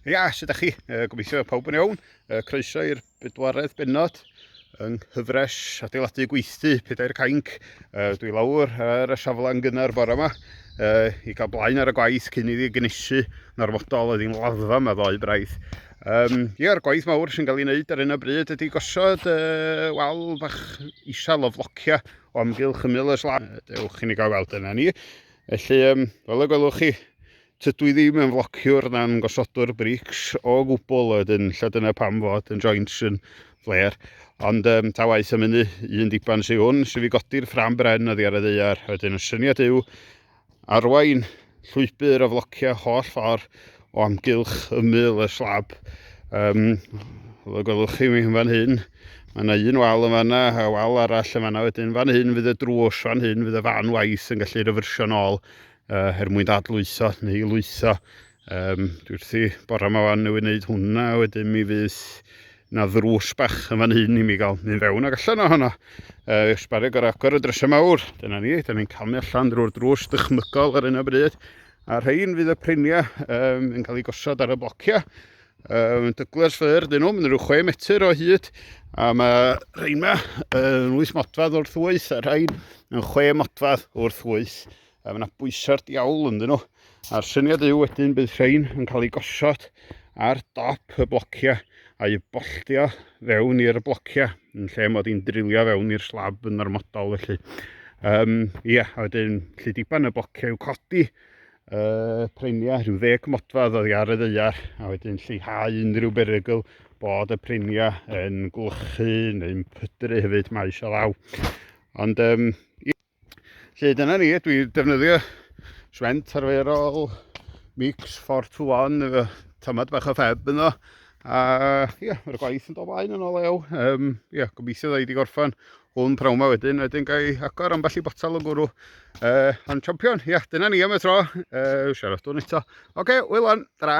Ia, sut ydych chi? Uh, gobeithio pawb yn iawn. Uh, croeso i'r bedwaredd benod yng nghyfres adeiladu gweithdy pedair cainc. Uh, dwi lawr ar y safle yn gynnar bore yma uh, i gael blaen ar y gwaith cyn iddi gynnysu narfodol oedd hi'n laddfa yma ddoe braidd. Um, Ie'r gwaith mawr sy'n cael ei wneud ar un o bryd ydy gosod uh, wal bach isel o flocia o amgylch y mil y slan. Dewch i ni gael weld yna ni. Felly, um, fel y gwelwch chi, tydw i ddim yn flociwr na'n gosodwr brics o gwbl, ydyn, lle dyna pam fod yn joints yn fler. Ond um, ta waith am hynny, un diban sy'n hwn, sy'n fi godi'r ffram bren oddi ar y ddeiar. Wedyn, y syniad yw arwain llwybr o flociau holl ffordd o amgylch ymyl y slab. Um, fel y gwelwch chi mi yn fan hyn, mae yna un wal yn fanna, a wal arall yn fanna wedyn. Fan hyn fydd y drws, fan hyn fydd y fan waith yn gallu refersio'n ôl uh, her mwyn dadlwytho neu lwytho. Um, dwi wrthi bore yma fan newydd wneud hwnna, wedyn mi fydd na ddrws bach yn fan hyn i mi gael mynd fewn ac allan ohono. Uh, Ysbarig ar agor y drysau mawr, dyna ni, dyna ni'n camu allan drwy'r drws dychmygol ar un o bryd. A rhain fydd y priniau um, yn cael eu gosod ar y blociau. Um, dyglers ffyr dyn nhw, mynd rhyw 6 metr o hyd. A mae rhain yma yn 8 modfad wrth wyth, a rhain yn 6 modfad wrth wyth. A mae yna bwysau'r diawl yn dyn nhw. A'r syniad yw wedyn bydd rhain yn cael eu gosod ar dop y blociau a'i bolltio fewn i'r blociau yn lle mod i'n drilio fewn i'r slab yn ormodol felly. Um, ia, a wedyn lle diban y blociau i'w codi uh, prenia rhyw ddeg modfedd oddi ar y ddeiar a wedyn lleihau unrhyw berygl bod y prenia yn gwlychu neu'n pydru hefyd mae eisiau law. Ond um, Felly dyna ni, dwi defnyddio swent arferol, mix 4 to 1 efo tamad bach o ffeb yno. A ie, yeah, mae'r gwaith yn dod blaen yn ôl ew. Um, ie, yeah, gobeithio dda i di gorffan hwn prawn ma wedyn, wedyn gael ei agor am balli botal o gwrw. Uh, ond champion, ie, yeah, dyna ni am y tro. Uh, siarad dwn eto. Oce, okay, wyl on, dra.